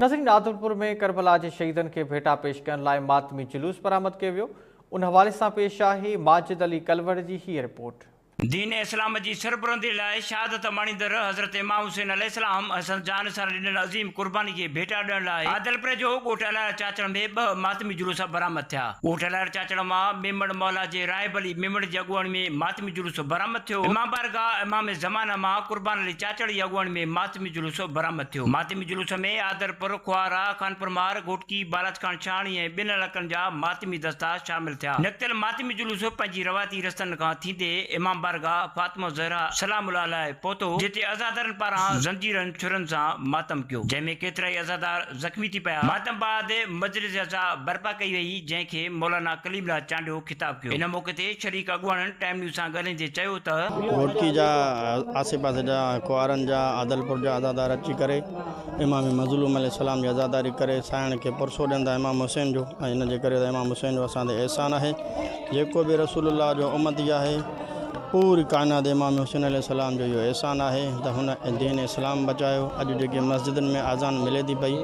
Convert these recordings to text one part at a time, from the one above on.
ناظرين عادلپور ۾ ڪربلا جي شهيدن کي ڀيٽا پيش ڪرڻ لاء ماتمي جلوس برآمد ڪيو ويو ان حوالي سان پيش آهي ماجد علي ڪلوڙ جي هيء رپورٽ. دين اسلام جي سربلندي لاء شهادت ماڻيندڙ حضرت امام حسين عليه السلام حسن جان سان ڏنل عظيم قرباني کي ڀيٽا ڏيڻ لاء عادلپور جو ڳوٺ الاير چاچڙ ۾ ٻه ماتمي جلوس برآمد ٿيا. ڳوٺ الاير چاچڙ مان ميمڻ مولا جي راهب علي ميمڻ جي اڳواڻي ۾ ماتمي جلوس برآمد ٿيو. امام بارگاهه امام زمانه مان قربان علي چاچڙ جي اڳواڻي ۾ ماتمي جلوس برآمد ٿيو. ماتمي جلوس ۾ آدرپور، کوهارا، خانپور مار، گهوٽڪي، بالاچ خان شاهڻي ۽ ٻين علائقن جا ماتمي دستا شامل ٿيا. نڪتل ماتمي جلوس پنهنجي روايتي رستن کان ٿيندي امام بارگاهه فاطمه الزهراء سلام الله عليها پهتو، جتي عزادارن پاران زنجيرن ڇرن سان ماتم ڪيو، جنهن ۾ ڪيترائي عزادار زخمي ٿي پيا. ماتم بعد مجلس عزا برپا ڪئي وئي جنهن کي مولانا ڪليم الله چانڊيو خطاب ڪيو. ان موقعي تي شريڪ اڳواڻن ٽائيم نيوز سان ڳالهائيندي چيو ته. گهوٽڪي جا آسي پاسي جا ۽ ڪنوارن جا عادلپور جا عزادار اچي ڪري امام مظلوم عليه السلام جي عزاداري ڪري سائڻ کي پرسو ڏين ٿا امام حسين جو ۽ ان جي ڪري ته امام حسين جو اسان تي احسان آهي جيڪو به رسول الله جو امتي آهي پوري ڪائنات امام حسين عليه السلام جو اهو احسان آهي ته هن دين اسلام بچايو اڄ جيڪي مسجدن ۾ آذان ملي ٿي پئي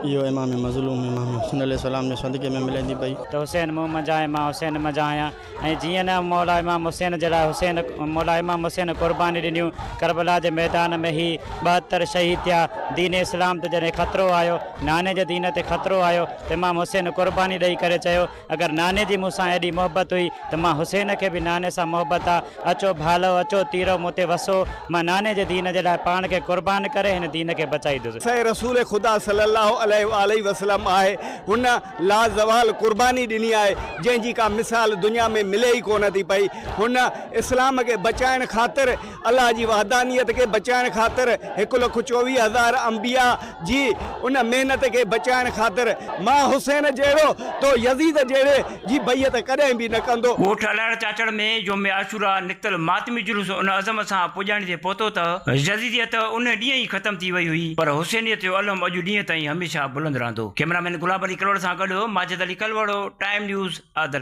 اهو امام مظلوم امام حسين عليه السلام جي صدقي ۾ ملي ٿي پئي. ته حسين مون منجهان ۽ مان حسين منجهان آهيان ۽ جيئن نه مولا امام حسين جي لاء حسين مولا امام حسين قرباني ڏنيون ڪربلا جي ميدان ۾ هي ٻاهتر شهيد ٿيا دين اسلام تي جڏهن خطرو آيو ناني جي دين تي خطرو آيو ته امام حسين قرباني ڏئي ڪري چيو اگر ناني جي مون سان ايڏي محبت هئي ته مان حسين کي به ناني سان محبت آ. اچو ڀالؤ اچو تيرؤ مون تي وسو. مان ناني جي دين جي لاء پاڻ کي قربان ڪري هن دين کي بچائيندس. سائين رسول خدا صلي الله عليه واٰله وسلم آهي. هن لازوال قرباني ڏني آهي جنهن جي ڪا مثال دنيا ۾ ملي ئي ڪونه ٿي پئي. هن اسلام کي بچائڻ خاطر الله جي وحدانيت کي بچائڻ خاطر هڪ لک چوويهه هزار انبياء جي ان محنت کي بچائڻ خاطر مان حسين جهڙو تو يزيد جهڙي جي بيعت ڪڏهن به نه ڪندو. ڳوٺ الاڙ چاچڙ ۾ يوم عاشوراء نڪتل ماتمي جلوس ان عزم سان پڄاڻي تي پهتو ته يزيديت ان ڏينهن ئي ختم ٿي وئي هئي پر حسينيت جو الم اڄ ڏينهن تائين هميشه بلند رهندو. ڪئميرا مين گلاب علي ڪلوڙ سان گڏ ماجد علي ڪلوڙو، ٽائيم نيوز، عادل.